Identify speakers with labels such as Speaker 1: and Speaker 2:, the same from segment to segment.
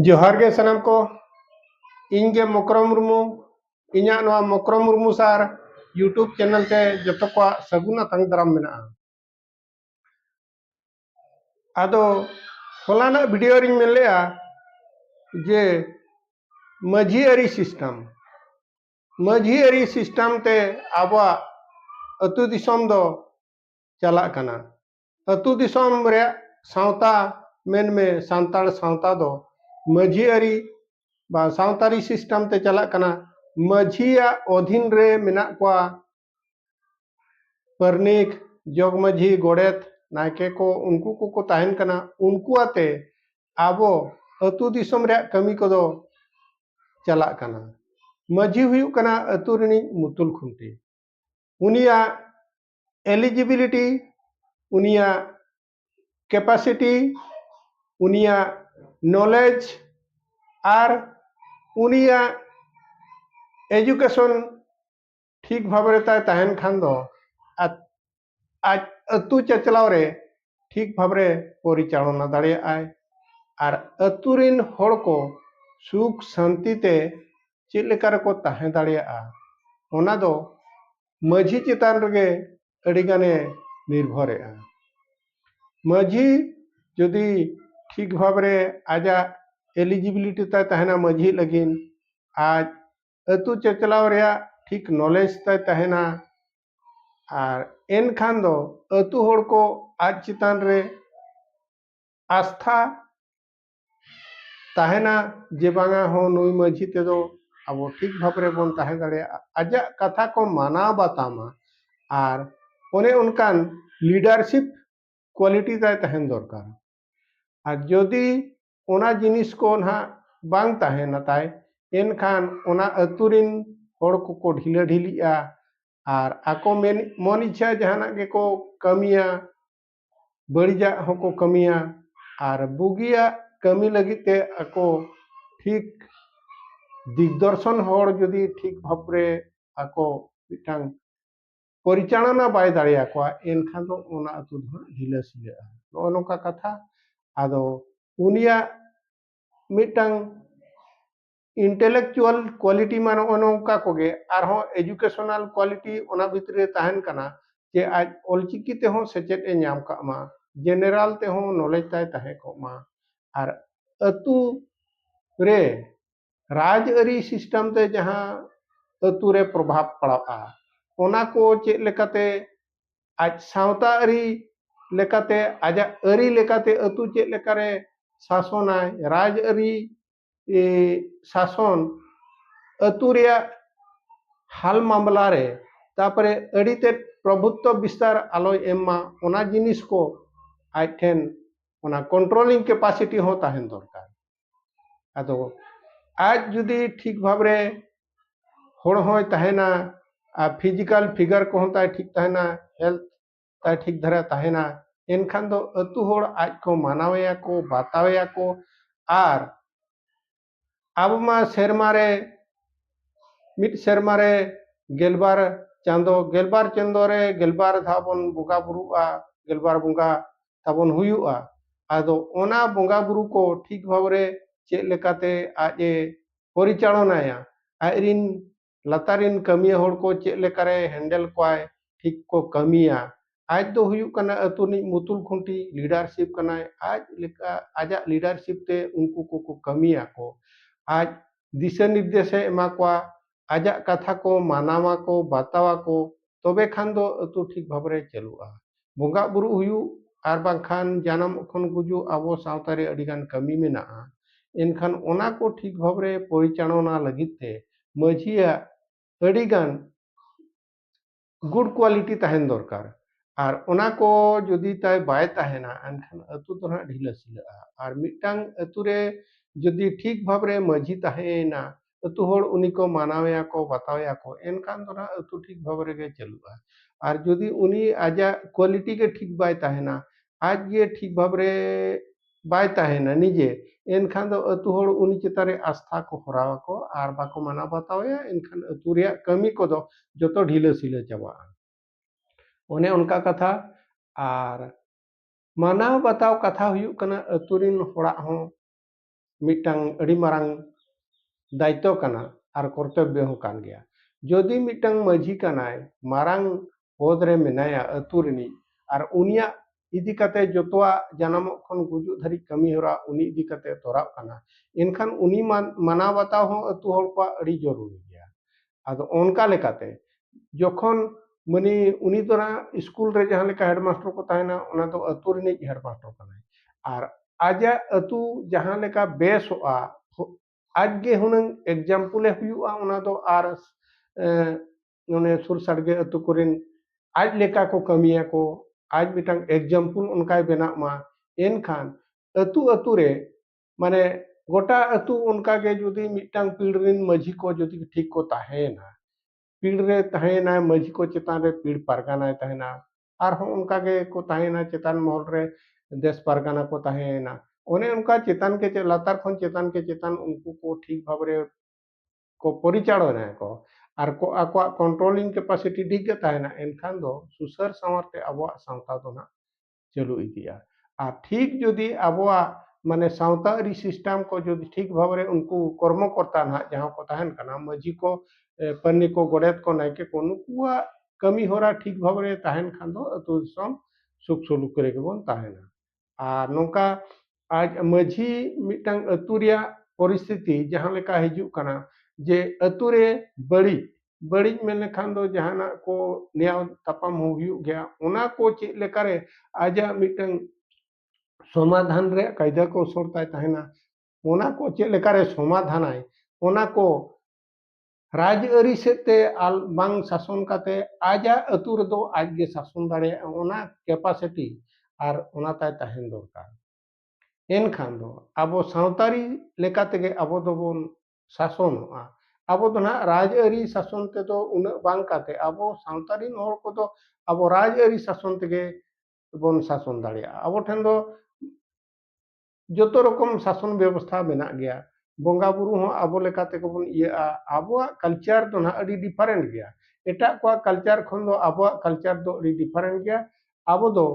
Speaker 1: ᱡᱚᱦᱟᱨ ᱜᱮ ᱥᱟᱱᱟᱢ ᱠᱚ ᱤᱧ ᱜᱮ ᱢᱚᱠᱨᱚ ᱢᱩᱨᱢᱩ ᱤᱧᱟᱹᱜ ᱱᱚᱣᱟ Mokro Murmu sir YouTube channel ᱛᱮ ᱡᱚᱛᱚ ᱠᱚᱣᱟᱜ ᱥᱟᱹᱜᱩᱱ ᱟᱛᱟᱝ ᱫᱟᱨᱟᱢ ᱢᱮᱱᱟᱜᱼᱟ ᱟᱫᱚ ᱦᱚᱞᱟᱱᱟᱜ ᱵᱷᱤᱰᱤᱭᱳ ᱨᱤᱧ ᱢᱮᱱ ᱞᱮᱜᱼᱟ ᱡᱮ ᱢᱟᱹᱡᱷᱤ ᱟᱹᱨᱤ ᱥᱤᱥᱴᱮᱢ ᱢᱟᱹᱡᱷᱤ ᱟᱹᱨᱤ ᱥᱤᱥᱴᱮᱢ ᱛᱮ ᱟᱵᱚᱣᱟᱜ ᱟᱹᱛᱩ ᱫᱤᱥᱚᱢ ᱫᱚ ᱪᱟᱞᱟᱜ ᱠᱟᱱᱟ ᱟᱹᱛᱩ ᱫᱤᱥᱚᱢ ᱨᱮᱭᱟᱜ ᱥᱟᱶᱛᱟ ᱢᱮᱱᱢᱮ ᱥᱟᱱᱛᱟᱲ ᱥᱟᱶᱛᱟ ᱫᱚ ᱢᱟᱹᱡᱷᱤ ᱟᱹᱨᱤ ᱵᱟ ᱥᱟᱶᱛᱟᱨᱤ ᱥᱤᱥᱴᱮᱢ ᱛᱮ ᱪᱟᱞᱟᱜ ᱠᱟᱱᱟ ᱢᱟᱹᱡᱷᱤᱭᱟᱜ ᱚᱫᱷᱤᱱ ᱨᱮ ᱢᱮᱱᱟᱜ ᱠᱚᱣᱟ ᱯᱟᱨᱱᱤᱠ ᱡᱚᱜᱽ ᱢᱟᱹᱡᱷᱤ ᱜᱚᱰᱮᱛ ᱱᱟᱭᱠᱮ ᱠᱚ ᱩᱱᱠᱩ ᱠᱚᱠᱚ ᱛᱟᱦᱮᱱ ᱠᱟᱱᱟ ᱩᱱᱠᱩ ᱟᱛᱮ ᱟᱵᱚ ᱟᱹᱛᱩ ᱫᱤᱥᱚᱢ ᱨᱮᱭᱟᱜ ᱠᱟᱹᱢᱤ ᱠᱚᱫᱚ ᱪᱟᱞᱟᱜ ᱠᱟᱱᱟ ᱢᱟᱹᱡᱷᱤ ᱦᱩᱭᱩᱜ ᱠᱟᱱᱟ ᱟᱹᱛᱩ ᱨᱤᱱᱤᱡ ᱢᱩᱛᱩᱞ ᱠᱷᱩᱱᱴᱤ ᱩᱱᱤᱭᱟᱜ ᱮᱞᱤᱡᱤᱵᱤᱞᱤᱴᱤ ᱩᱱᱤᱭᱟᱜ ᱠᱮᱯᱟᱥᱤᱴᱤ ᱩᱱᱤᱭᱟᱜ ᱱᱚᱞᱮᱡᱽ ᱟᱨ ᱩᱱᱤᱭᱟᱜ ᱮᱡᱩᱠᱮᱥᱚᱱ ᱴᱷᱤᱠ ᱵᱷᱟᱵᱮ ᱨᱮ ᱛᱟᱭ ᱛᱟᱦᱮᱱ ᱠᱷᱟᱱ ᱫᱚ ᱟᱡ ᱟᱹᱛᱩ ᱪᱟᱪᱞᱟᱣ ᱨᱮ ᱴᱷᱤᱠ ᱵᱷᱟᱵᱮ ᱨᱮ ᱯᱚᱨᱤᱪᱟᱞᱚᱱᱟ ᱫᱟᱲᱮᱭᱟᱜ ᱟᱭ ᱟᱨ ᱟᱹᱛᱩ ᱨᱤᱱ ᱦᱚᱲ ᱠᱚ ᱥᱩᱠ ᱥᱟᱱᱛᱤ ᱛᱮ ᱪᱮᱫ ᱞᱮᱠᱟ ᱨᱮᱠᱚ ᱛᱟᱦᱮᱸ ᱫᱟᱲᱮᱭᱟᱜᱼᱟ ᱚᱱᱟ ᱫᱚ ᱢᱟᱹᱡᱷᱤ ᱪᱮᱛᱟᱱ ᱨᱮᱜᱮ ᱟᱹᱰᱤ ᱜᱟᱱᱮ ᱱᱤᱨᱵᱷᱚᱨᱮᱜᱼᱟ ᱢᱟᱹᱡᱷᱤ ᱡᱩᱫᱤ ᱴᱷᱤᱠ ᱵᱷᱟᱵᱽ ᱨᱮ ᱟᱡᱟᱜ ᱮᱞᱤᱡᱤᱵᱤᱞᱤᱴᱤ ᱛᱟᱭ ᱛᱟᱦᱮᱱᱟ ᱢᱟᱹᱡᱷᱤ ᱞᱟᱹᱜᱤᱫ ᱟᱡ ᱟᱹᱛᱩ ᱪᱟᱪᱞᱟᱣ ᱨᱮᱭᱟᱜ ᱴᱷᱤᱠ ᱱᱚᱞᱮᱡᱽ ᱛᱟᱭ ᱛᱟᱦᱮᱱᱟ ᱟᱨ ᱮᱱᱠᱷᱟᱱ ᱫᱚ ᱟᱹᱛᱩ ᱦᱚᱲ ᱠᱚ ᱟᱡ ᱪᱮᱛᱟᱱ ᱨᱮ ᱟᱥᱛᱷᱟ ᱛᱟᱦᱮᱱᱟ ᱡᱮ ᱵᱟᱝᱟ ᱦᱚᱸ ᱱᱩᱭ ᱢᱟᱺᱡᱷᱤ ᱛᱮᱫᱚ ᱟᱵᱚ ᱴᱷᱤᱠ ᱵᱷᱟᱵᱽ ᱨᱮᱵᱚᱱ ᱛᱟᱦᱮᱸ ᱫᱟᱲᱮᱭᱟᱜᱼᱟ ᱟᱡᱟᱜ ᱠᱟᱛᱷᱟ ᱠᱚ ᱢᱟᱱᱟᱣ ᱵᱟᱛᱟᱢᱟ ᱟᱨ ᱚᱱᱮ ᱚᱱᱠᱟᱱ ᱞᱤᱰᱟᱨᱥᱤᱯ ᱠᱳᱣᱟᱞᱤᱴᱤ ᱛᱟᱭ ᱛᱟᱦᱮᱱ ᱫᱚᱨᱠᱟᱨ ᱟᱨ ᱡᱩᱫᱤ ᱚᱱᱟ ᱡᱤᱱᱤᱥ ᱠᱚ ᱱᱟᱦᱟᱜ ᱵᱟᱝ ᱛᱟᱦᱮᱱᱟ ᱛᱟᱭ ᱮᱱᱠᱷᱟᱱ ᱚᱱᱟ ᱟᱹᱛᱩ ᱨᱤᱱ ᱦᱚᱲ ᱠᱚᱠᱚ ᱰᱷᱤᱞᱟᱹ ᱰᱷᱤᱞᱤᱜᱼᱟ ᱟᱨ ᱟᱠᱚ ᱢᱮᱱ ᱢᱚᱱ ᱤᱪᱪᱷᱟ ᱡᱟᱦᱟᱱᱟᱜ ᱜᱮᱠᱚ ᱠᱟᱹᱢᱤᱭᱟ ᱵᱟᱹᱲᱤᱡᱟᱜ ᱦᱚᱸᱠᱚ ᱠᱟᱹᱢᱤᱭᱟ ᱟᱨ ᱵᱩᱜᱤᱭᱟᱜ ᱠᱟᱹᱢᱤ ᱞᱟᱹᱜᱤᱫ ᱛᱮ ᱟᱠᱚ ᱴᱷᱤᱠ ᱫᱤᱜᱽᱫᱚᱨᱥᱚᱱ ᱦᱚᱲ ᱡᱩᱫᱤ ᱴᱷᱤᱠ ᱵᱷᱟᱵᱽ ᱨᱮ ᱟᱠᱚ ᱢᱤᱫᱴᱟᱝ ᱯᱚᱨᱤᱪᱟᱞᱚᱱᱟ ᱵᱟᱭ ᱫᱟᱲᱮᱭᱟᱠᱚᱣᱟ ᱮᱱᱠᱷᱟᱱ ᱫᱚ ᱚᱱᱟ ᱟᱹᱛᱩ ᱫᱚ ᱦᱟᱸᱜ ᱦᱤᱞᱟᱹ ᱥᱤᱞᱟᱹᱜᱼᱟ ᱱᱚᱜᱼᱚ ᱱᱚᱝᱠᱟ ᱠᱟᱛᱷᱟ ᱟᱫᱚ ᱩᱱᱤᱭᱟᱜ ᱢᱤᱫᱴᱟᱝ ᱤᱱᱴᱮᱞᱮᱠᱪᱩᱭᱟᱞ ᱠᱳᱣᱟᱞᱤᱴᱤ ᱢᱟ ᱱᱚᱜᱼᱚ ᱱᱚᱝᱠᱟ ᱠᱚᱜᱮ ᱟᱨᱦᱚᱸ ᱮᱡᱩᱠᱮᱥᱚᱱᱟᱞ ᱠᱳᱣᱟᱞᱤᱴᱤ ᱚᱱᱟ ᱵᱷᱤᱛᱨᱤ ᱨᱮ ᱛᱟᱦᱮᱱ ᱠᱟᱱᱟ ᱡᱮ ᱟᱡ ᱚᱞᱪᱤᱠᱤ ᱛᱮᱦᱚᱸ ᱥᱮᱪᱮᱫ ᱮ ᱧᱟᱢ ᱠᱟᱜ ᱢᱟ ᱡᱮᱱᱮᱨᱟᱞ ᱛᱮᱦᱚᱸ ᱱᱚᱞᱮᱡᱽ ᱛᱟᱭ ᱛᱟᱦᱮᱸ ᱠᱚᱜ ᱢᱟ ᱟᱨ ᱟᱹᱛᱩ ᱨᱮ ᱨᱟᱡᱽ ᱟᱹᱨᱤ ᱥᱤᱥᱴᱮᱢ ᱛᱮ ᱡᱟᱦᱟᱸ ᱟᱹᱛᱩ ᱨᱮ ᱯᱨᱚᱵᱷᱟᱵᱽ ᱯᱟᱲᱟᱜᱼᱟ ᱚᱱᱟ ᱠᱚ ᱪᱮᱫ ᱞᱮᱠᱟᱛᱮ ᱟᱡ ᱥᱟᱶᱛᱟ ᱟᱹᱨᱤ ᱞᱮᱠᱟᱛᱮ ᱟᱡᱟᱜ ᱟᱹᱨᱤ ᱞᱮᱠᱟᱛᱮ ᱟᱹᱛᱩ ᱪᱮᱫ ᱞᱮᱠᱟᱨᱮ ᱥᱟᱥᱚᱱᱟᱭ ᱨᱟᱡᱽ ᱟᱹᱨᱤ ᱥᱟᱥᱚᱱ ᱟᱹᱛᱩ ᱨᱮᱭᱟᱜ ᱦᱟᱞ ᱢᱟᱢᱞᱟ ᱨᱮ ᱛᱟᱯᱚᱨᱮ ᱟᱹᱰᱤ ᱛᱮᱫ ᱯᱨᱚᱵᱷᱩᱛᱛᱚ ᱵᱤᱥᱛᱟᱨ ᱟᱞᱚᱭ ᱮᱢ ᱢᱟ ᱚᱱᱟ ᱡᱤᱱᱤᱥ ᱠᱚ ᱟᱡ ᱴᱷᱮᱱ ᱚᱱᱟ ᱠᱚᱱᱴᱨᱳᱞᱤᱝ ᱠᱮᱯᱟᱥᱤᱴᱤ ᱦᱚᱸ ᱛᱟᱦᱮᱱ ᱫᱚᱨᱠᱟᱨ ᱟᱫᱚ ᱟᱡ ᱡᱩᱫᱤ ᱴᱷᱤᱠ ᱵᱷᱟᱵᱽᱨᱮ ᱦᱚᱲ ᱦᱚᱸᱭ ᱛᱟᱦᱮᱱᱟ ᱟᱨ ᱯᱷᱤᱡᱤᱠᱟᱞ ᱯᱷᱤᱜᱟᱨ ᱠᱚᱦᱚᱸ ᱛᱟᱭ ᱴᱷᱤᱠ ᱛᱟᱦᱮᱱᱟ ᱦᱮᱞᱛᱷ ᱛᱟᱭ ᱴᱷᱤᱠ ᱫᱷᱟᱨᱟ ᱛᱟᱦᱮᱱᱟ ᱮᱱᱠᱷᱟᱱ ᱫᱚ ᱟᱹᱛᱩ ᱦᱚᱲ ᱟᱡ ᱠᱚ ᱢᱟᱱᱟᱣᱮᱭᱟ ᱠᱚ ᱵᱟᱛᱟᱣᱮᱭᱟ ᱠᱚ ᱟᱨ ᱟᱵᱚ ᱢᱟ ᱥᱮᱨᱢᱟ ᱨᱮ ᱢᱤᱫ ᱥᱮᱨᱢᱟ ᱨᱮ ᱜᱮᱞᱵᱟᱨ ᱪᱟᱸᱫᱚ ᱜᱮᱞᱵᱟᱨ ᱪᱟᱸᱫᱚ ᱨᱮ ᱜᱮᱞᱵᱟᱨ ᱫᱷᱟᱣ ᱵᱚᱱ ᱵᱚᱸᱜᱟ ᱵᱩᱨᱩᱜᱼᱟ ᱜᱮᱞᱵᱟᱨ ᱵᱚᱸᱜᱟ ᱛᱟᱵᱚᱱ ᱦᱩᱭᱩᱜᱼᱟ ᱟᱫᱚ ᱚᱱᱟ ᱵᱚᱸᱜᱟ ᱵᱩᱨᱩ ᱠᱚ ᱴᱷᱤᱠ ᱵᱷᱟᱵᱽ ᱨᱮ ᱪᱮᱫ ᱞᱮᱠᱟᱛᱮ ᱟᱡ ᱮ ᱯᱚᱨᱤᱪᱟᱞᱚᱱᱟᱭᱟ ᱟᱡ ᱨᱤᱱ ᱞᱟᱛᱟᱨ ᱨᱮᱱ ᱠᱟᱹᱢᱤᱭᱟᱹ ᱦᱚᱲ ᱠᱚ ᱪᱮᱫ ᱞᱮᱠᱟᱨᱮ ᱦᱮᱱᱰᱮᱞ ᱠᱚᱣᱟᱭ ᱴᱷᱤᱠ ᱠᱚ ᱠᱟᱹᱢᱤᱭᱟ ᱟᱡ ᱫᱚ ᱦᱩᱭᱩᱜ ᱠᱟᱱᱟ ᱟᱹᱛᱩ ᱨᱤᱱᱤᱡ ᱢᱩᱛᱩᱞ ᱠᱷᱩᱱᱴᱤ ᱞᱤᱰᱟᱨᱥᱤᱯ ᱠᱟᱱᱟᱭ ᱟᱡ ᱞᱮᱠᱟ ᱟᱡᱟᱜ ᱞᱤᱰᱟᱨᱥᱤᱯ ᱛᱮ ᱩᱱᱠᱩ ᱠᱚᱠᱚ ᱠᱟᱹᱢᱤᱭᱟ ᱠᱚ ᱟᱡ ᱫᱤᱥᱟᱹ ᱱᱤᱨᱫᱮᱥᱮ ᱮᱢᱟ ᱠᱚᱣᱟ ᱟᱡᱟᱜ ᱠᱟᱛᱷᱟ ᱠᱚ ᱢᱟᱱᱟᱣᱟ ᱠᱚ ᱵᱟᱛᱟᱣᱟ ᱠᱚ ᱛᱚᱵᱮ ᱠᱷᱟᱱ ᱫᱚ ᱟᱹᱛᱩ ᱴᱷᱤᱠ ᱵᱷᱟᱵᱽᱨᱮ ᱪᱟᱹᱞᱩᱜᱼᱟ ᱵᱚᱸᱜᱟ ᱵᱩᱨᱩ ᱦᱩᱭᱩᱜ ᱟᱨ ᱵᱟᱝᱠᱷᱟᱱ ᱡᱟᱱᱟᱢ ᱠᱷᱚᱱ ᱜᱩᱡᱩᱜ ᱟᱵᱚ ᱥᱟᱶᱛᱟ ᱨᱮ ᱟᱹᱰᱤ ᱜᱟᱱ ᱠᱟᱹᱢᱤ ᱢᱮᱱᱟᱜᱼᱟ ᱮᱱᱠᱷᱟᱱ ᱚᱱᱟ ᱠᱚ ᱴᱷᱤᱠ ᱵᱷᱟᱵᱽ ᱨᱮ ᱯᱚᱨᱤᱪᱟᱞᱚᱱᱟ ᱞᱟᱹᱜᱤᱫ ᱛᱮ ᱢᱟᱹᱡᱷᱤᱭᱟᱜ ᱟᱹᱰᱤ ᱜᱟᱱ ᱜᱩᱰ ᱠᱣᱟᱞᱤᱴᱤ ᱛᱟᱦᱮᱱ ᱫᱚᱨᱠᱟᱨ ᱟᱨ ᱚᱱᱟ ᱠᱚ ᱡᱩᱫᱤ ᱛᱟᱭ ᱵᱟᱭ ᱛᱟᱦᱮᱱᱟ ᱮᱱᱠᱷᱟᱱ ᱟᱹᱛᱩ ᱫᱚ ᱦᱟᱸᱜ ᱰᱷᱤᱞᱟᱹ ᱥᱤᱞᱟᱹᱜᱼᱟ ᱟᱨ ᱢᱤᱫᱴᱟᱝ ᱟᱹᱛᱩ ᱨᱮ ᱡᱩᱫᱤ ᱴᱷᱤᱠ ᱵᱷᱟᱵᱽ ᱨᱮ ᱢᱟᱹᱡᱷᱤ ᱛᱟᱦᱮᱸᱭᱮᱱᱟ ᱟᱹᱛᱩ ᱦᱚᱲ ᱩᱱᱤ ᱠᱚ ᱢᱟᱱᱟᱣ ᱮᱭᱟ ᱠᱚ ᱵᱟᱛᱟᱣ ᱮᱭᱟ ᱠᱚ ᱮᱱᱠᱷᱟᱱ ᱫᱚ ᱱᱟᱦᱟᱜ ᱟᱹᱛᱩ ᱴᱷᱤᱠ ᱵᱷᱟᱵᱽ ᱨᱮᱜᱮ ᱪᱟᱹᱞᱩᱜᱼᱟ ᱟᱨ ᱡᱩᱫᱤ ᱩᱱᱤ ᱟᱡᱟᱜ ᱠᱳᱣᱟᱞᱤᱴᱤ ᱜᱮ ᱴᱷᱤᱠ ᱵᱟᱭ ᱛᱟᱦᱮᱱᱟ ᱟᱡ ᱜᱮ ᱴᱷᱤᱠ ᱵᱷᱟᱵᱽ ᱨᱮ ᱵᱟᱭ ᱛᱟᱦᱮᱱᱟ ᱱᱤᱡᱮ ᱮᱱᱠᱷᱟᱱ ᱫᱚ ᱟᱹᱛᱩ ᱦᱚᱲ ᱩᱱᱤ ᱪᱮᱛᱟᱱ ᱨᱮ ᱟᱥᱛᱷᱟ ᱠᱚ ᱦᱚᱨᱟᱣ ᱟᱠᱚ ᱟᱨ ᱵᱟᱠᱚ ᱢᱟᱱᱟᱣ ᱵᱟᱛᱟᱣ ᱮᱭᱟ ᱮᱱᱠᱷᱟᱱ ᱟᱹᱛᱩ ᱨᱮᱭᱟᱜ ᱠᱟᱹᱢᱤ ᱠᱚᱫᱚ ᱡᱚᱛᱚ ᱰᱷᱤᱞᱟᱹ ᱥᱤᱞᱟᱹ ᱪᱟᱵᱟᱜᱼᱟ ᱚᱱᱮ ᱚᱱᱠᱟ ᱠᱟᱛᱷᱟ ᱟᱨ ᱢᱟᱱᱟᱣ ᱵᱟᱛᱟᱣ ᱠᱟᱛᱷᱟ ᱦᱩᱭᱩᱜ ᱠᱟᱱᱟ ᱟᱹᱛᱩ ᱨᱤᱱ ᱦᱚᱲᱟᱜ ᱦᱚᱸ ᱢᱤᱫᱴᱟᱝ ᱟᱹᱰᱤ ᱢᱟᱨᱟᱝ ᱫᱟᱭᱤᱛᱛᱚ ᱠᱟᱱᱟ ᱟᱨ ᱠᱚᱨᱛᱚᱵᱽᱵᱚ ᱦᱚᱸ ᱠᱟᱱ ᱜᱮᱭᱟ ᱡᱩᱫᱤ ᱢᱤᱫᱴᱟᱝ ᱢᱟᱺᱡᱷᱤ ᱠᱟᱱᱟᱭ ᱢᱟᱨᱟᱝ ᱯᱚᱫᱽ ᱨᱮ ᱢᱮᱱᱟᱭᱟ ᱟᱹᱛᱩ ᱨᱤᱱᱤᱡ ᱟᱨ ᱩᱱᱤᱭᱟᱜ ᱤᱫᱤ ᱠᱟᱛᱮ ᱡᱚᱛᱚᱣᱟᱜ ᱡᱟᱱᱟᱢᱚᱜ ᱠᱷᱚᱱ ᱜᱩᱡᱩᱜ ᱫᱷᱟᱹᱨᱤᱡ ᱠᱟᱹᱢᱤ ᱦᱚᱨᱟ ᱩᱱᱤ ᱤᱫᱤ ᱠᱟᱛᱮ ᱛᱚᱨᱟᱜ ᱠᱟᱱᱟ ᱮᱱᱠᱷᱟᱱ ᱩᱱᱤ ᱢᱟᱱᱟᱣ ᱵᱟᱛᱟᱣ ᱦᱚᱸ ᱟᱹᱛᱩ ᱦᱚᱲ ᱠᱚᱣᱟᱜ ᱟᱹᱰᱤ ᱡᱚᱨᱩᱨᱤ ᱜᱮᱭᱟ ᱟᱫᱚ ᱚᱱᱠᱟ ᱞᱮᱠᱟᱛᱮ ᱡᱚᱠᱷᱚᱱ ᱢᱟᱱᱮ ᱩᱱᱤ ᱫᱚ ᱱᱟᱜ ᱥᱠᱩᱞ ᱨᱮ ᱡᱟᱦᱟᱸ ᱞᱮᱠᱟ ᱦᱮᱰ ᱢᱟᱥᱴᱚᱨ ᱠᱚ ᱛᱟᱦᱮᱱᱟ ᱚᱱᱟ ᱫᱚ ᱟᱹᱛᱩ ᱨᱤᱱᱤᱡ ᱦᱮᱰ ᱢᱟᱥᱴᱚᱨ ᱠᱟᱱᱟᱭ ᱟᱨ ᱟᱡᱟᱜ ᱟᱹᱛᱩ ᱡᱟᱦᱟᱸ ᱞᱮᱠᱟ ᱵᱮᱥᱚᱜᱼᱟ ᱟᱡ ᱜᱮ ᱦᱩᱱᱟᱹᱝ ᱮᱠᱡᱟᱢᱯᱩᱞᱮ ᱦᱩᱭᱩᱜᱼᱟ ᱚᱱᱟ ᱫᱚ ᱟᱨ ᱚᱱᱮ ᱥᱩᱨ ᱥᱟᱰᱜᱮ ᱟᱹᱛᱩ ᱠᱚᱨᱮᱱ ᱟᱡ ᱞᱮᱠᱟ ᱠᱚ ᱠᱟᱹᱢᱤᱭᱟᱠᱚ ᱟᱡ ᱢᱤᱫᱴᱟᱝ ᱮᱠᱡᱟᱢᱯᱩᱞ ᱚᱱᱠᱟᱭ ᱵᱮᱱᱟᱜ ᱢᱟ ᱮᱱᱠᱷᱟᱱ ᱟᱹᱛᱩ ᱟᱹᱛᱩ ᱨᱮ ᱢᱟᱱᱮ ᱜᱚᱴᱟ ᱟᱹᱛᱩ ᱚᱱᱠᱟᱜᱮ ᱡᱩᱫᱤ ᱢᱤᱫᱴᱟᱝ ᱯᱤᱲ ᱨᱮᱱ ᱢᱟᱹᱡᱷᱤ ᱠᱚ ᱡᱩᱫᱤ ᱴᱷᱤᱠ ᱠᱚ ᱛᱟᱦᱮᱸᱭᱮᱱᱟ ᱯᱤᱲ ᱨᱮ ᱛᱟᱦᱮᱸᱭᱮᱱᱟᱭ ᱢᱟᱹᱡᱷᱤ ᱠᱚ ᱪᱮᱛᱟᱱ ᱨᱮ ᱯᱤᱲ ᱯᱟᱨᱜᱟᱱᱟᱭ ᱛᱟᱦᱮᱱᱟ ᱟᱨᱦᱚᱸ ᱚᱱᱠᱟᱜᱮ ᱠᱚ ᱛᱟᱦᱮᱸᱭᱮᱱᱟ ᱪᱮᱛᱟᱱ ᱢᱚᱦᱚᱞ ᱨᱮ ᱫᱮᱥ ᱯᱟᱨᱜᱟᱱᱟ ᱠᱚ ᱛᱟᱦᱮᱸᱭᱮᱱᱟ ᱚᱱᱮ ᱚᱱᱠᱟ ᱪᱮᱛᱟᱱ ᱠᱮ ᱞᱟᱛᱟᱨ ᱠᱷᱚᱱ ᱪᱮᱛᱟᱱ ᱠᱮ ᱪᱮᱛᱟᱱ ᱩᱱᱠᱩ ᱠᱚ ᱴᱷᱤᱠ ᱵᱷᱟᱵᱽᱨᱮ ᱠᱚ ᱯᱚᱨᱤᱪᱟᱞᱚᱱᱟᱭᱟᱠᱚ ᱟᱨ ᱠᱚ ᱟᱠᱚᱣᱟᱜ ᱠᱚᱱᱴᱨᱳᱞᱤᱝ ᱠᱮᱯᱟᱥᱤᱴᱤ ᱴᱷᱤᱠ ᱜᱮ ᱛᱟᱦᱮᱱᱟ ᱮᱱᱠᱷᱟᱱ ᱫᱚ ᱥᱩᱥᱟᱹᱨ ᱥᱟᱶᱟᱨ ᱛᱮ ᱟᱵᱚᱣᱟᱜ ᱥᱟᱶᱛᱟ ᱫᱚ ᱱᱟᱜ ᱪᱟᱹᱞᱩ ᱤᱫᱤᱜᱼᱟ ᱟᱨ ᱴᱷᱤᱠ ᱡᱩᱫᱤ ᱟᱵᱚᱣᱟᱜ ᱢᱟᱱᱮ ᱥᱟᱶᱛᱟ ᱟᱹᱨᱤ ᱥᱤᱥᱴᱮᱢ ᱠᱚ ᱡᱩᱫᱤ ᱴᱷᱤᱠ ᱵᱷᱟᱵᱮ ᱩᱱᱠᱩ ᱠᱚᱨᱢᱚ ᱠᱚᱨᱛᱟ ᱱᱟᱦᱟᱜ ᱡᱟᱦᱟᱸ ᱠᱚ ᱛᱟᱦᱮᱱ ᱠᱟᱱᱟ ᱢᱟᱹᱡᱷᱤ ᱠᱚ ᱯᱟᱹᱱᱤ ᱠᱚ ᱜᱚᱰᱮᱛ ᱠᱚ ᱱᱟᱭᱠᱮ ᱠᱚ ᱱᱩᱠᱩᱣᱟᱜ ᱠᱟᱹᱢᱤ ᱦᱚᱨᱟ ᱴᱷᱤᱠ ᱵᱷᱟᱵᱮ ᱛᱟᱦᱮᱱ ᱠᱷᱟᱱ ᱫᱚ ᱟᱹᱛᱩ ᱫᱤᱥᱚᱢ ᱥᱩᱠ ᱥᱩᱞᱩᱠ ᱨᱮᱜᱮ ᱵᱚᱱ ᱛᱟᱦᱮᱱᱟ ᱟᱨ ᱱᱚᱝᱠᱟ ᱟᱡ ᱢᱟᱹᱡᱷᱤ ᱢᱤᱫᱴᱟᱝ ᱟᱹᱛᱩ ᱨᱮᱭᱟᱜ ᱯᱚᱨᱤᱥᱛᱷᱤᱛᱤ ᱡᱟᱦᱟᱸ ᱞᱮᱠᱟ ᱦᱤᱡᱩᱜ ᱠᱟᱱᱟ ᱡᱮ ᱟᱹᱛᱩ ᱨᱮ ᱵᱟᱹᱲᱤᱡ ᱵᱟᱹᱲᱤᱡ ᱢᱮᱱ ᱞᱮᱠᱷᱟᱱ ᱫᱚ ᱡᱟᱦᱟᱱᱟᱜ ᱠᱚ ᱱᱮᱭᱟᱣ ᱛᱟᱯᱟᱢ ᱦᱚᱸ ᱦᱩᱭᱩᱜ ᱜᱮᱭᱟ ᱚᱱᱟ ᱠᱚ ᱪᱮᱫ ᱞᱮᱠᱟᱨᱮ ᱟᱡᱟᱜ ᱢᱤᱫᱴᱟᱝ ᱥᱚᱢᱟᱫᱷᱟᱱ ᱨᱮᱭᱟᱜ ᱠᱟᱭᱫᱟ ᱠᱚᱣᱥᱚᱞ ᱛᱟᱭ ᱛᱟᱦᱮᱱᱟ ᱚᱱᱟ ᱠᱚ ᱪᱮᱫ ᱞᱮᱠᱟᱨᱮ ᱥᱚᱢᱟᱫᱷᱟᱱᱟᱭ ᱚᱱᱟ ᱠᱚ ᱨᱟᱡᱽ ᱟᱹᱨᱤ ᱥᱮᱫ ᱛᱮ ᱵᱟᱝ ᱥᱟᱥᱚᱱ ᱠᱟᱛᱮ ᱟᱡᱟᱜ ᱟᱹᱛᱩ ᱨᱮᱫᱚ ᱟᱡ ᱜᱮ ᱥᱟᱥᱚᱱ ᱫᱟᱲᱮᱭᱟᱜᱼᱟ ᱚᱱᱟ ᱠᱮᱯᱟᱥᱤᱴᱤ ᱟᱨ ᱚᱱᱟ ᱛᱟᱭ ᱛᱟᱦᱮᱱ ᱫᱚᱨᱠᱟর ᱮᱱᱠᱷᱟᱱ ᱫᱚ ᱟᱵᱚ ᱥᱟᱶᱛᱟᱨᱤ ᱞᱮᱠᱟ ᱛᱮᱜᱮ ᱟᱵᱚ ᱫᱚᱵᱚᱱ ᱥᱟᱥᱚᱱᱚᱜᱼᱟ ᱟᱵᱚ ᱫᱚ ᱱᱟᱦᱟᱜ ᱨᱟᱡᱽ ᱟᱹᱨᱤ ᱥᱟᱥᱚᱱ ᱛᱮᱫᱚ ᱩᱱᱟᱹᱜ ᱵᱟᱝ ᱠᱟᱛᱮ ᱟᱵᱚ ᱥᱟᱶᱛᱟᱨᱤᱱ ᱦᱚᱲ ᱠᱚᱫᱚ ᱟᱵᱚ ᱨᱟᱡᱽ ᱟᱹᱨᱤ ᱥᱟᱥᱚᱱ ᱛᱮᱜᱮ ᱵᱚᱱ ᱥᱟᱥᱚᱱ ᱫᱟᱲᱮᱭᱟᱜᱼᱟ ᱟᱵᱚ ᱴᱷᱮᱱ ᱫᱚ ᱡᱚᱛᱚ ᱨᱚᱠᱚᱢ ᱥᱟᱥᱚᱱ ᱵᱮᱵᱚᱥᱛᱷᱟ ᱢᱮᱱᱟᱜ ᱜᱮᱭᱟ ᱵᱚᱸᱜᱟ ᱵᱩᱨᱩ ᱦᱚᱸ ᱟᱵᱚ ᱞᱮᱠᱟ ᱛᱮᱜᱮ ᱵᱚᱱ ᱤᱭᱟᱹᱜᱼᱟ ᱟᱵᱚᱣᱟᱜ ᱠᱟᱞᱪᱟᱨ ᱫᱚ ᱱᱟᱜ ᱟᱹᱰᱤ ᱰᱤᱯᱷᱟᱨᱮᱱᱴ ᱜᱮᱭᱟ ᱮᱴᱟᱜ ᱠᱚᱣᱟᱜ ᱠᱟᱞᱪᱟᱨ ᱠᱷᱚᱱ ᱫᱚ ᱟᱵᱚᱣᱟᱜ ᱠᱟᱞᱪᱟᱨ ᱫᱚ ᱟᱹᱰᱤ ᱰᱤᱯᱷᱟᱨᱮᱱᱴ ᱜᱮᱭᱟ ᱟᱵᱚ ᱫᱚ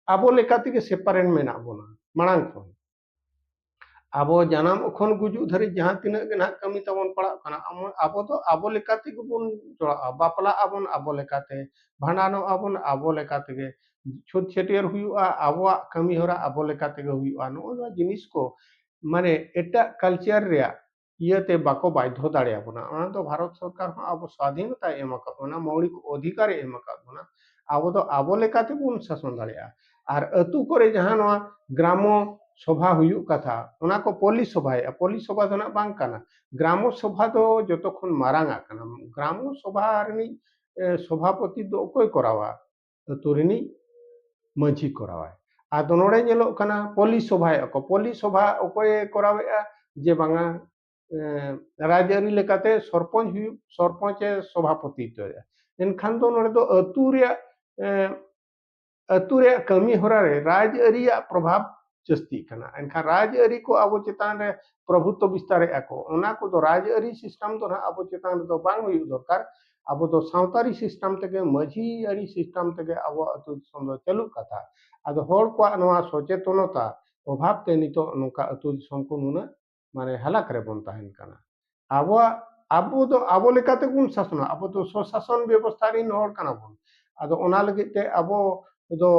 Speaker 1: ᱟᱵᱚ ᱞᱮᱠᱟ ᱛᱮᱜᱮ ᱥᱮᱯᱟᱨᱮᱱᱴ ᱢᱮᱱᱟᱜ ᱵᱚᱱᱟ ᱢᱟᱲᱟᱝ ᱠᱷᱚᱱ ᱟᱵᱚ ᱡᱟᱱᱟᱢ ᱠᱷᱚᱱ ᱜᱩᱡᱩᱜ ᱫᱷᱟᱹᱨᱤᱡ ᱡᱟᱦᱟᱸ ᱛᱤᱱᱟᱹᱜ ᱜᱮ ᱱᱟᱜ ᱠᱟᱹᱢᱤ ᱛᱟᱵᱚᱱ ᱯᱟᱲᱟᱜ ᱠᱟᱱᱟ ᱟᱵᱚ ᱫᱚ ᱟᱵᱚ ᱞᱮᱠᱟ ᱛᱮᱜᱮ ᱵᱚᱱ ᱡᱚᱲᱟᱜᱼᱟ ᱵᱟᱯᱞᱟᱜ ᱟᱵᱚᱱ ᱟᱵᱚ ᱞᱮᱠᱟᱛᱮ ᱵᱷᱟᱸᱰᱟᱱᱚᱜ ᱟᱵᱚᱱ ᱟᱵᱚ ᱞᱮᱠᱟ ᱛᱮᱜᱮ ᱪᱷᱩᱛ ᱪᱷᱟᱹᱴᱭᱟᱹᱨ ᱦᱩᱭᱩᱜᱼᱟ ᱟᱵᱚᱣᱟᱜ ᱠᱟᱹᱢᱤ ᱦᱚᱨᱟ ᱟᱵᱚ ᱞᱮᱠᱟ ᱛᱮᱜᱮ ᱦᱩᱭᱩᱜᱼᱟ ᱱᱚᱜᱼᱚ ᱱᱚᱣᱟ ᱡᱤᱱᱤᱥ ᱠᱚ ᱢᱟᱱᱮ ᱮᱴᱟᱜ ᱠᱟᱞᱪᱟᱨ ᱨᱮᱭᱟᱜ ᱤᱭᱟᱹᱛᱮ ᱵᱟᱠᱚ ᱵᱟᱫᱽᱫᱷᱚ ᱫᱟᱲᱮᱭᱟᱵᱚᱱᱟ ᱚᱱᱟ ᱫᱚ ᱵᱷᱟᱨᱚᱛ ᱥᱚᱨᱠᱟᱨ ᱦᱚᱸ ᱟᱵᱚ ᱥᱟᱫᱷᱤᱱᱚᱛᱟᱭ ᱮᱢ ᱟᱠᱟᱫ ᱵᱚᱱᱟ ᱢᱳᱣᱞᱤᱠ ᱚᱫᱷᱤᱠᱟᱨᱮ ᱮᱢ ᱟᱠᱟᱫ ᱵᱚᱱᱟ ᱟᱵᱚ ᱫᱚ ᱟᱵᱚ ᱞᱮᱠᱟ ᱛᱮᱵᱚᱱ ᱥᱟᱥᱚᱱ ᱫᱟᱲᱮᱭᱟᱜᱼᱟ ᱟᱨ ᱟᱹᱛᱩ ᱠᱚᱨᱮ ᱡᱟᱦᱟᱸ ᱱᱚᱣᱟ ᱜᱨᱟᱢᱚ ᱥᱚᱵᱷᱟ ᱦᱩᱭᱩᱜ ᱠᱟᱛᱷᱟ ᱚᱱᱟ ᱠᱚ ᱯᱚᱞᱤ ᱥᱚᱵᱷᱟᱭᱮᱫᱼᱟ ᱯᱚᱞᱤ ᱥᱚᱵᱷᱟ ᱫᱚ ᱱᱟᱜ ᱵᱟᱝ ᱠᱟᱱᱟ ᱜᱨᱟᱢᱚ ᱥᱚᱵᱷᱟ ᱫᱚ ᱡᱚᱛᱚ ᱠᱷᱚᱱ ᱢᱟᱨᱟᱝ ᱟᱜ ᱠᱟᱱᱟ ᱜᱨᱟᱢᱚ ᱥᱚᱵᱷᱟ ᱨᱤᱱᱤᱡ ᱥᱚᱵᱷᱟᱯᱚᱛᱤ ᱫᱚ ᱚᱠᱚᱭ ᱠᱚᱨᱟᱣᱟ ᱟᱹᱛᱩ ᱨᱤᱱᱤᱡ ᱢᱟᱹᱡᱷᱤ ᱠᱚᱨᱟᱣᱟᱭ ᱟᱫᱚ ᱱᱚᱰᱮ ᱧᱮᱞᱚᱜ ᱠᱟᱱᱟ ᱯᱚᱞᱤ ᱥᱚᱵᱷᱟᱭᱮᱫᱼᱟ ᱠᱚ ᱯᱚᱞᱤ ᱥᱚᱵᱷᱟ ᱚᱠᱚᱭᱮ ᱠᱚᱨᱟᱣᱮᱫᱼᱟ ᱡᱮ ᱵᱟᱝᱟ ᱨᱟᱡᱽᱟᱹᱨᱤ ᱞᱮᱠᱟᱛᱮ ᱥᱚᱨᱯᱚᱧᱪ ᱦᱩᱭᱩᱜ ᱥᱚᱨᱯᱚᱧᱪᱮ ᱥᱚᱵᱷᱟᱯᱚᱛᱤ ᱦᱚᱪᱚᱭᱮᱫᱼᱟ ᱮᱱᱠᱷᱟᱱ ᱫᱚ ᱱᱚᱰᱮ ᱫᱚ ᱟᱹᱛᱩ ᱨᱮᱭᱟᱜ ᱟᱹᱛᱩ ᱨᱮᱭᱟᱜ ᱠᱟᱹᱢᱤ ᱦᱚᱨᱟ ᱨᱮ ᱨᱟᱡᱽᱟᱹᱨᱤᱭᱟᱜ ᱯᱨᱚᱵᱷᱟᱵᱽ ᱡᱟᱹᱥᱛᱤᱜ ᱠᱟᱱᱟ ᱮᱱᱠᱷᱟᱱ ᱨᱟᱡᱽᱟᱹᱨᱤ ᱠᱚ ᱟᱵᱚ ᱪᱮᱛᱟᱱ ᱨᱮ ᱯᱨᱚᱵᱷᱩᱛᱚ ᱵᱤᱥᱛᱟᱨᱮᱜᱼᱟ ᱠᱚ ᱚᱱᱟ ᱠᱚᱫᱚ ᱨᱟᱡᱽᱟᱹᱨᱤ ᱥᱤᱥᱴᱮᱢ ᱫᱚ ᱱᱟᱦᱟᱜ ᱟᱵᱚ ᱪᱮᱛᱟᱱ ᱨᱮᱫᱚ ᱵᱟᱝ ᱦᱩᱭᱩᱜ ᱫᱚᱨᱠᱟᱨ ᱟᱵᱚ ᱫᱚ ᱥᱟᱶᱛᱟᱨᱤ ᱥᱤᱥᱴᱮᱢ ᱛᱮᱜᱮ ᱢᱟᱹᱡᱷᱤ ᱟᱹᱨᱤ ᱥᱤᱥᱴᱮᱢ ᱛᱮᱜᱮ ᱟᱵᱚ ᱟᱹᱛᱩ ᱫᱤᱥᱚᱢ ᱫᱚ ᱪᱟᱹᱞᱩᱜ ᱠᱟᱛᱷᱟ ᱟᱫᱚ ᱦᱚᱲ ᱠᱚᱣᱟᱜ ᱱᱚᱣᱟ ᱥᱚᱪᱮᱛᱚᱱᱚᱛᱟ ᱚᱵᱷᱟᱵ ᱛᱮ ᱱᱤᱛᱚᱜ ᱱᱚᱝᱠᱟ ᱟᱹᱛᱩ ᱫᱤᱥᱚᱢ ᱠᱚ ᱱᱩᱱᱟᱹᱜ ᱢᱟᱱᱮ ᱦᱟᱞᱟᱠ ᱨᱮᱵᱚᱱ ᱛᱟᱦᱮᱱ ᱠᱟᱱᱟ ᱟᱵᱚᱣᱟᱜ ᱟᱵᱚ ᱫᱚ ᱟᱵᱚ ᱞᱮᱠᱟᱛᱮ ᱵᱚᱱ ᱥᱟᱥᱚᱱᱟ ᱟᱵᱚ ᱫᱚ ᱥᱚᱥᱟᱥᱚᱱ ᱵᱮᱵᱚᱥᱛᱷᱟ ᱨᱤᱱ ᱦᱚᱲ ᱠᱟᱱᱟ ᱵᱚᱱ ᱟᱫᱚ ᱚᱱᱟ ᱞᱟᱹᱜᱤᱫ ᱛᱮ ᱟᱵᱚ ᱫᱚ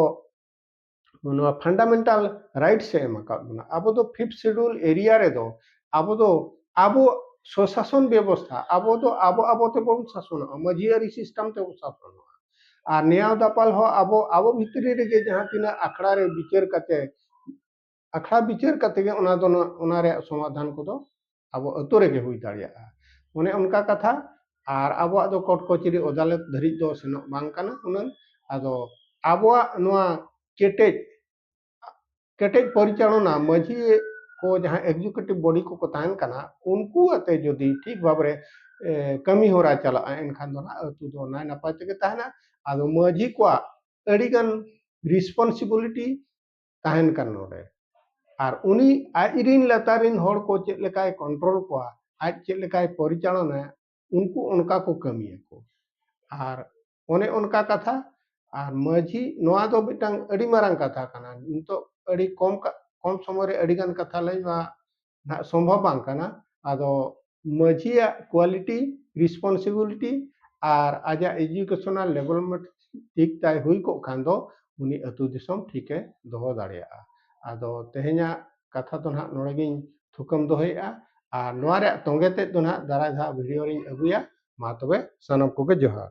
Speaker 1: ᱱᱚᱣᱟ ᱯᱷᱟᱱᱰᱟᱢᱮᱱᱴᱟᱞ ᱨᱟᱭᱤᱴᱥ ᱮ ᱮᱢ ᱟᱠᱟᱫ ᱵᱚᱱᱟ ᱟᱵᱚ ᱫᱚ ᱯᱷᱤᱯᱛᱷ ᱥᱮᱰᱩᱞ ᱮᱨᱤᱭᱟ ᱨᱮᱫᱚ ᱟᱵᱚ ᱫᱚ ᱟᱵᱚ ᱥᱚᱥᱟᱥᱚᱱ ᱵᱮᱵᱚᱥᱛᱷᱟ ᱟᱵᱚ ᱫᱚ ᱟᱵᱚ ᱟᱵᱚ ᱛᱮᱵᱚᱱ ᱥᱟᱥᱚᱱᱚᱜᱼᱟ ᱢᱟᱹᱡᱷᱤᱭᱟᱹᱨᱤ ᱥᱤᱥᱴᱮᱢ ᱛᱮᱵᱚᱱ ᱥᱟᱥᱚᱱᱚᱜᱼᱟ ᱟᱨ ᱱᱮᱭᱟᱣ ᱫᱟᱯᱟᱞ ᱦᱚᱸ ᱟᱵᱚ ᱟᱵᱚ ᱵᱷᱤᱛᱨᱤ ᱨᱮᱜᱮ ᱡᱟᱦᱟᱸ ᱛᱤᱱᱟᱹᱜ ᱟᱠᱷᱲᱟ ᱨᱮ ᱵᱤᱪᱟᱹᱨ ᱠᱟᱛᱮ ᱟᱠᱷᱲᱟ ᱵᱤᱪᱟᱹᱨ ᱠᱟᱛᱮ ᱜᱮ ᱚᱱᱟ ᱫᱚ ᱚᱱᱟ ᱨᱮᱭᱟᱜ ᱥᱚᱢᱟᱫᱷᱟᱱ ᱠᱚᱫᱚ ᱟᱵᱚ ᱟᱹᱛᱩ ᱨᱮᱜᱮ ᱦᱩᱭ ᱫᱟᱲᱮᱭᱟᱜᱼᱟ ᱚᱱᱮ ᱚᱱᱠᱟ ᱠᱟᱛᱷᱟ ᱟᱨ ᱟᱵᱚᱣᱟᱜ ᱫᱚ ᱠᱳᱨᱴ ᱠᱚᱪᱮᱨᱤ ᱟᱫᱟᱞᱚᱛ ᱫᱷᱟᱹᱨᱤᱡ ᱫᱚ ᱥᱮᱱᱚᱜ ᱵᱟᱝ ᱠᱟᱱᱟ ᱩᱱᱟᱹᱝ ᱟᱫᱚ ᱟᱵᱚᱣᱟᱜ ᱱᱚᱣᱟ ᱠᱮᱴᱮᱡ ᱠᱮᱴᱮᱡ ᱯᱚᱨᱤᱪᱟᱞᱚᱱᱟ ᱢᱟᱹᱡᱷᱤ ᱠᱚ ᱡᱟᱦᱟᱸ ᱮᱠᱡᱤᱠᱩᱴᱤᱵᱽ ᱵᱚᱰᱤ ᱠᱚᱠᱚ ᱛᱟᱦᱮᱱ ᱠᱟᱱᱟ ᱩᱱᱠᱩ ᱟᱛᱮ ᱡᱩᱫᱤ ᱴᱷᱤᱠ ᱵᱷᱟᱵᱽᱨᱮ ᱠᱟᱹᱢᱤ ᱦᱚᱨᱟ ᱪᱟᱞᱟᱜᱼᱟ ᱮᱱᱠᱷᱟᱱ ᱫᱚ ᱱᱟᱦᱟᱜ ᱟᱹᱛᱩ ᱫᱚ ᱱᱟᱭ ᱱᱟᱯᱟᱭ ᱛᱮᱜᱮ ᱛᱟᱦᱮᱱᱟ ᱟᱫᱚ ᱢᱟᱹᱡᱷᱤ ᱠᱚᱣᱟᱜ ᱟᱹᱰᱤᱜᱟᱱ ᱨᱮᱥᱯᱚᱱᱥᱤᱵᱤᱞᱤᱴᱤ ᱛᱟᱦᱮᱱ ᱠᱟᱱ ᱱᱚᱰᱮ ᱟᱨ ᱩᱱᱤ ᱟᱡ ᱨᱤᱱ ᱞᱟᱛᱟᱨ ᱨᱤᱱ ᱦᱚᱲ ᱠᱚ ᱪᱮᱫ ᱞᱮᱠᱟᱭ ᱠᱚᱱᱴᱨᱳᱞ ᱠᱚᱣᱟ ᱟᱡ ᱪᱮᱫ ᱞᱮᱠᱟᱭ ᱯᱚᱨᱤᱪᱟᱞᱚᱱᱟ ᱩᱱᱠᱩ ᱚᱱᱠᱟ ᱠᱚ ᱠᱟᱹᱢᱤᱭᱟᱠᱚ ᱟᱨ ᱚᱱᱮ ᱚᱱᱠᱟ ᱠᱟᱛᱷᱟ ᱟᱨ ᱢᱟᱹᱡᱷᱤ ᱱᱚᱣᱟ ᱫᱚ ᱢᱤᱫᱴᱟᱝ ᱟᱹᱰᱤ ᱢᱟᱨᱟᱝ ᱠᱟᱛᱷᱟ ᱠᱟᱱᱟ ᱱᱤᱛᱚᱜ ᱟᱹᱰᱤ ᱠᱚᱢ ᱠᱚᱢ ᱥᱚᱢᱚᱭ ᱨᱮ ᱟᱹᱰᱤ ᱜᱟᱱ ᱠᱟᱛᱷᱟ ᱞᱟᱹᱭ ᱢᱟ ᱱᱟᱜ ᱥᱚᱢᱵᱷᱚᱵ ᱵᱟᱝ ᱠᱟᱱᱟ ᱟᱫᱚ ᱢᱟᱹᱡᱷᱤᱭᱟᱜ ᱠᱳᱣᱟᱞᱤᱴᱤ ᱨᱮᱥᱯᱚᱱᱥᱤᱵᱤᱞᱤᱴᱤ ᱟᱨ ᱟᱡᱟᱜ ᱮᱡᱩᱠᱮᱥᱚᱱᱟᱞ ᱰᱮᱵᱷᱞᱚᱯᱢᱮᱱᱴ ᱴᱷᱤᱠ ᱛᱟᱭ ᱦᱩᱭ ᱠᱚᱜ ᱠᱷᱟᱱ ᱫᱚ ᱩᱱᱤ ᱟᱹᱛᱩ ᱫᱤᱥᱚᱢ ᱴᱷᱤᱠᱮ ᱫᱚᱦᱚ ᱫᱟᱲᱮᱭᱟᱜᱼᱟ ᱟᱫᱚ ᱛᱮᱦᱮᱧᱟᱜ ᱠᱟᱛᱷᱟ ᱫᱚ ᱱᱟᱜ ᱱᱚᱰᱮ ᱜᱤᱧ ᱛᱷᱩᱠᱟᱹᱢ ᱫᱚᱦᱚᱭᱮᱫᱼᱟ ᱟᱨ ᱱᱚᱣᱟ ᱨᱮᱭᱟᱜ ᱛᱚᱸᱜᱮ ᱛᱮᱫ ᱫᱚ ᱱᱟᱜ ᱫᱟᱨᱟᱭ ᱫᱷᱟᱣ ᱵᱷᱤᱰᱤᱭᱳ ᱨᱤᱧ ᱟᱹᱜᱩᱭᱟ ᱢᱟ ᱛᱚᱵᱮ ᱥᱟᱱᱟᱢ ᱠᱚᱜᱮ ᱡᱚᱦᱟᱨ